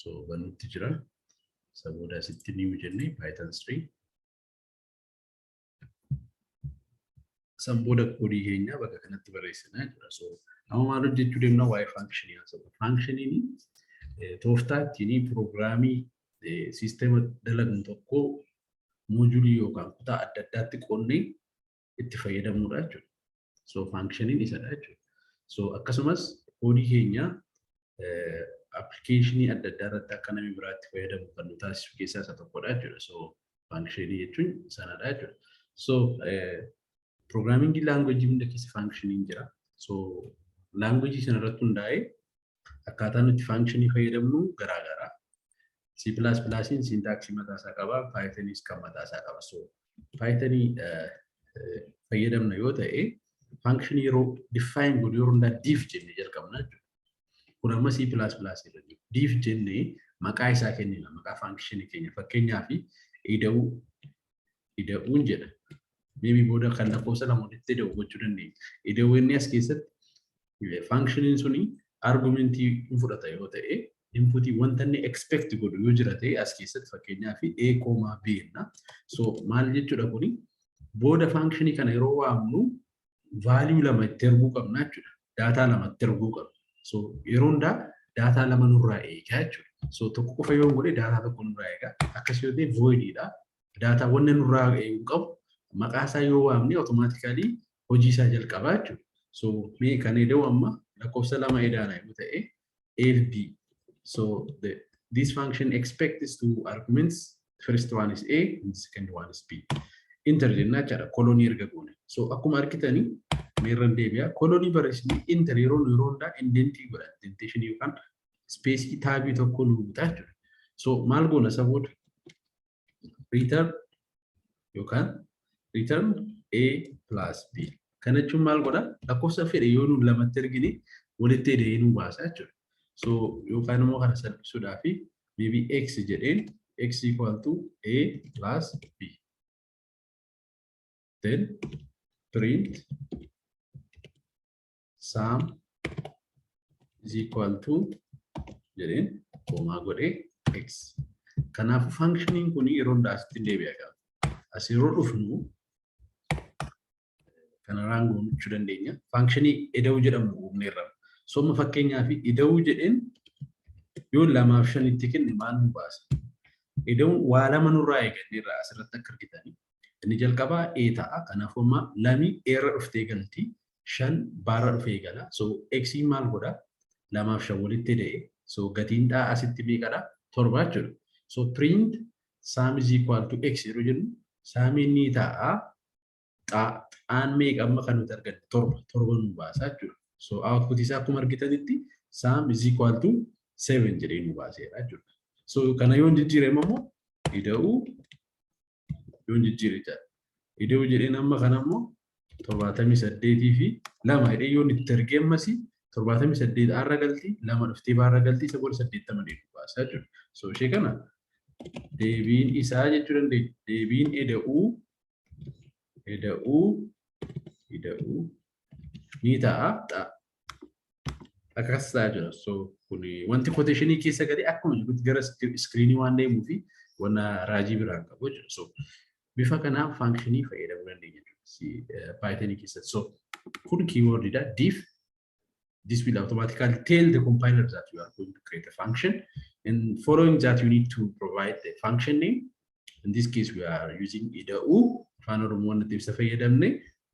so banutti jira isa booda asitti new jennee python 3 san booda koodii keenya bakka kanatti barreessinaa jira so amma maal hojjechuu deemna waa'ee faankishinii haasa'u faankishiniin tooftaa ittiin piroogiraamii siistema dalagan tokko moojulii yookaan kutaa adda addaatti qoonnee itti fayyadamnudha jechuudha. So faankishiniin isadha jechuudha. So akkasumas koodii keenya appilikeeshinii adda addaa irratti akka namni biraatti fayyadamu kan nu taasisu keessaa isa tokkodha jechuudha. So faankishinii jechuun sanadha jechuudha. So pirogiraamingii laangweejii hunda keessa faankishiniin jira. So laangweejii sana irratti hundaa'ee Akkaataa nuti faankshinii fayyadamnu garaa garaa. C++ siintaaksii mataa isaa qaba, Pythoniis kan mataa isaa qaba. So Python fayyadamna yoo ta'e faankshinii yeroo define godhu yeroo hundaa div jenne jalqabna jechuudha. Kun amma C++ irra jiru. Div jenne maqaa isaa kennina, maqaa faankshinii keenya fakkeenyaaf ida'uu ida'uun jedha. Meebii booda kan lakkoofsa lama walitti ida'u gochuu dandeenya. Ida'uu inni as keessatti Fankshiniin suni argumentii hin fudhata yoo ta'e inputii wanta inni expect godhu yoo jira ta'e as keessatti fakkeenyaa fi a koomaa b jenna. So maal jechuudha kuni booda faankshinii kana yeroo waamnu vaaliyuu lama itti erguu qabna jechuudha. Daataa lama itti erguu qabna. So yeroo hundaa daataa lama nurraa eegaa jechuudha. So tokko qofa yoo godhe daataa tokko nurraa eegaa. Akkas yoo ta'e voidiidha. Daataa wanna nurraa eeguu qabu maqaa isaa yoo waamne automaatikaalii hojii isaa jalqabaa jechuudha. So mee kan eda'u amma lakkoofsa lama edaana yoo ta'e A fi B. So the, this function expects two arguments. First one is A and second one is B. Inter jennaa jechaadha kolonii erga goone. So akkuma argitanii meerran deebi'a. Kolonii barreessanii inter yeroo yeroo hundaa indentii godha. Indenteeshinii yookaan ispeesii taabii tokko nu butaa jechuudha. So maal goona saboota? return yookaan return A plus B. Kana jechuun maal godha? Lakkoofsa fedhe yoo nuun lamatti ergine walitti hidhee nuu baasa jechuudha. So yookaan immoo kana salphisuudhaa fi maybe x jedheen x equal to A plus B. Then print saam is equal to jedheen koomaa godhee x. Kanaafuu fankshiniin kun yeroo hundaa asitti deebi'a qaba. As yeroo dhufnu kanarraan goonachuu dandeenya. Fankshini ida'uu jedhamu uumneerra. Sooma fakkeenyaaf ida'uu jedheen yoo lamaaf shanitti kenne maal nu baasa? Ida'uun waa lama nurraa eeganneerra asirratti akka argitanii. Inni jalqabaa A ta'a. Kanaafuu amma lamii eerra dhuftee galti. shan baarra dhufe eegala. So x maal godha? lamaaf shan walitti ida'e. So gatiin dhaa asitti meeqadha? torba jechuudha. So print sum is equal to x yeroo jennu saamiin ni ta'a. Xaan meeqa amma kan nuti arganne torba torba nu baasa jechuudha. So output isaa akkuma argitanitti sum is equal to seven jedhee nu baaseera jechuudha. So kana yoo jijjiirame immoo ida'uu iddoon jijjiire jedha. Idoo jedheen amma kana immoo torbaatamii saddeetii fi lama jedhee yoon itti ergee ammasii torbaatamii saddeet arra galtii lama dhuftee baarra galtii isa booda saddeettama deebi baasaa jiru. So ishee kana deebiin isaa jechuu dandeenya. Deebiin eda'uu eda'uu eda'uu ni ta'a akkas ta'aa jira. So kun wanti koteeshinii keessa galee akkuma jirutti gara iskiriinii waan deemuu fi wanna raajii biraan qabu jira. So bifa kanaan faankishinii fayyadamuu dandeenya jechuudha. Paayitanii keessatti. So kun kiiwoordiidha. Diif this will automatically tell the compiler that you are going to create a function and following that you need to provide the function name in this case we are using ida'u afaan oromoo nuti ibsa fayyadamne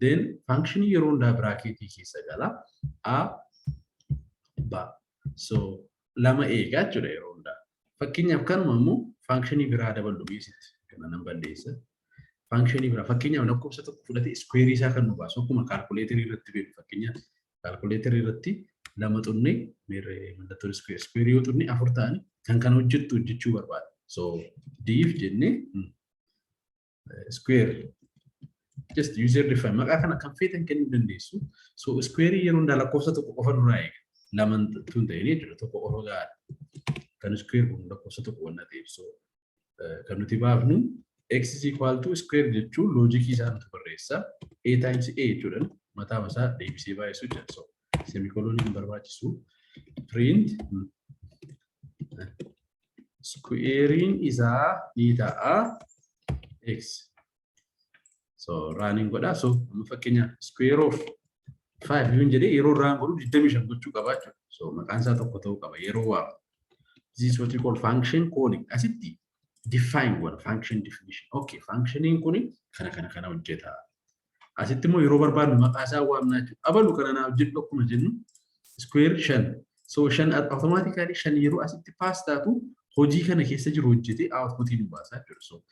then function yeroo hundaa biraakeetii keessa gala a ba so lama eegaa jechuudha yeroo hundaa fakkeenyaaf kanuma immoo function biraa daballu beesitti kana nan balleessa function biraa fakkeenyaaf lakkoofsa tokko fudhate iskuweerii isaa kan nu baasu akkuma kaalkuleetarii irratti beeku fakkeenyaaf Kaalkuleeterii irratti lama xunne mallattoon iskuweer yoo xunne afur ta'an kan kana hojjettu hojjechuu barbaada. So diif jennee iskuweer just user define maqaa kana kan feetan kennuu dandeessu. So iskuweerii yeroo hundaa lakkoofsa tokko qofa nurraa eega. Laman tun ta'ee jechuudha tokko qofa gahaadha. Kan iskuweer kun lakkoofsa tokko wanna ta'eef so kan nuti baafnu x is equal to square jechuun loojikii isaa nuti barreessa a times a jechuudhaan mataa masaa deebisee baay'isuu jedha so semikolonii hin barbaachisu print squarein isaa ni ta'a x so raaniin godhaa so amma fakkeenya square of 5 yuun jedhee yeroo raan godhu 25 gochuu qabaa jechuudha so maqaan isaa tokko ta'uu qaba yeroo waamu this is what we call function calling asitti define one function definition okay functioniin kun kana kana kana hojjeta asitti immoo yeroo barbaadnu maqaa isaa waamnaa jechuudha abalu kana naa hojjedhu akkuma jennu square 5 So shan automatically shan yeroo asitti pass taatu hojii kana keessa jiru hojjetee outputiin nu baasaa jiru. So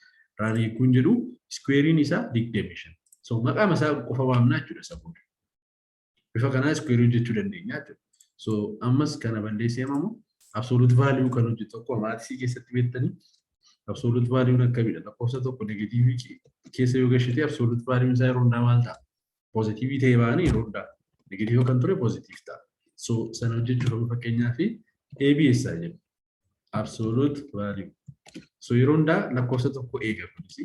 raan hiikuun jedhu iskuweeriin isaa digdamii shan. So maqaa isaa qofa waamnaa jechuudha isa booda. Bifa kanaa iskuweerii hojjechuu dandeenya jechuudha. So ammas kana balleessee ammoo absolute value kan hojjetu tokko maatisii keessatti beektanii absolute value akkamidha lakkoofsa tokko negatiivii keessa yoo gashite absolute value isaa yeroo hundaa maal ta'a? poozitiivii ta'ee baane yeroo hundaa negatiiva kan ture poozitiiv ta'a. So sana hojjechuuf amma fakkeenyaa fi ABS haa jennu. Absolute value. So yeroo hundaa lakkoofsa tokko eega kunis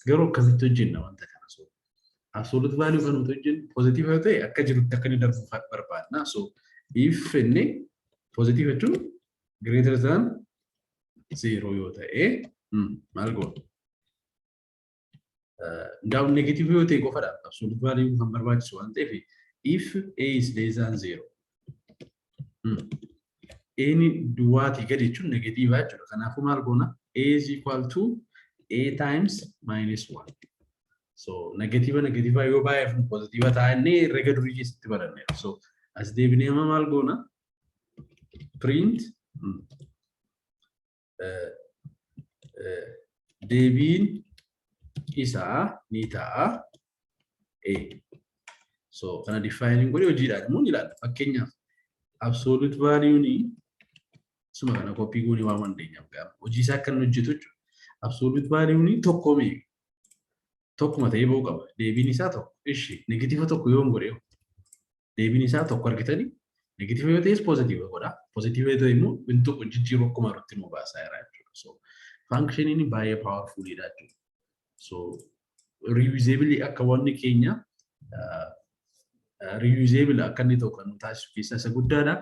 garuu akkasitti hojjenna wanta kana. So absolute value kan nuti hojjennu poozitiiva yoo ta'e akka jirutti akka inni darbu barbaadna. So if inni poozitiiva jechuun greater than zeeroo yoo ta'e maal goona? Now negative yoo ta'e qofadha. Absolute value kan barbaachisu waan ta'eef if A is less than zero. Eeni duwwaatii gadi jechuun negatiivaa jechuudha. Kanaafuu maal goona? A is equal to A times minus 1. So negatiiva negatiivaa yoo baay'eef pozitiiva ta'a inni herrega durii keessatti baranneera. So as deebinee amma maal goona? Print deebiin isaa ni ta'a A. So kana difaayiniin godhee hojiidhaan immoo ni ilaalla. Fakkeenyaaf absoluut vaaliyuuni suma kana koppii goonee waan dandeenyaaf gaama. Hojii isaa akka inni hojjetu jechuudha. Absoluut vaaliyuuni tokko mee tokkuma ta'ee ba'uu qaba. Deebiin isaa tokko. Ishi negatiiva tokko yoon godhee deebiin isaa tokko argitanii negatiiva yoo ta'es poozitiiva godha. Poozitiiva yoo ta'e immoo hin tuqu jijjiiru akkuma irratti nu baasaa jira jechuudha. So faankishiniin baay'ee paawarfuuliidha jechuudha. So riiyuuzeebilii akka wanni keenya riiyuuzeebila akka inni tokko nu taasisu keessaa isa guddaadha.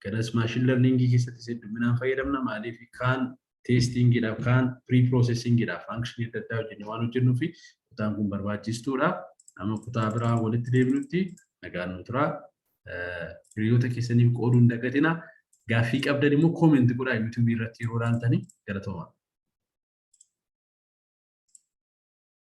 Kanas maashin lerniingii keessatti hedduminaan fayyadamna maaliif kaan teestiingiidhaaf kaan piriipiroosesiingiidhaaf faankishinii adda addaa hojjennee waan hojjennuu fi kutaan kun barbaachistuudha. Amma kutaa biraa walitti deebinutti nagaan nu turaa. Hiriyoota keessaniif qooduu hin dagatina. Gaaffii qabdan immoo koomenti godhaa yuutuubii irratti yeroo ilaaltanii galatoomaa.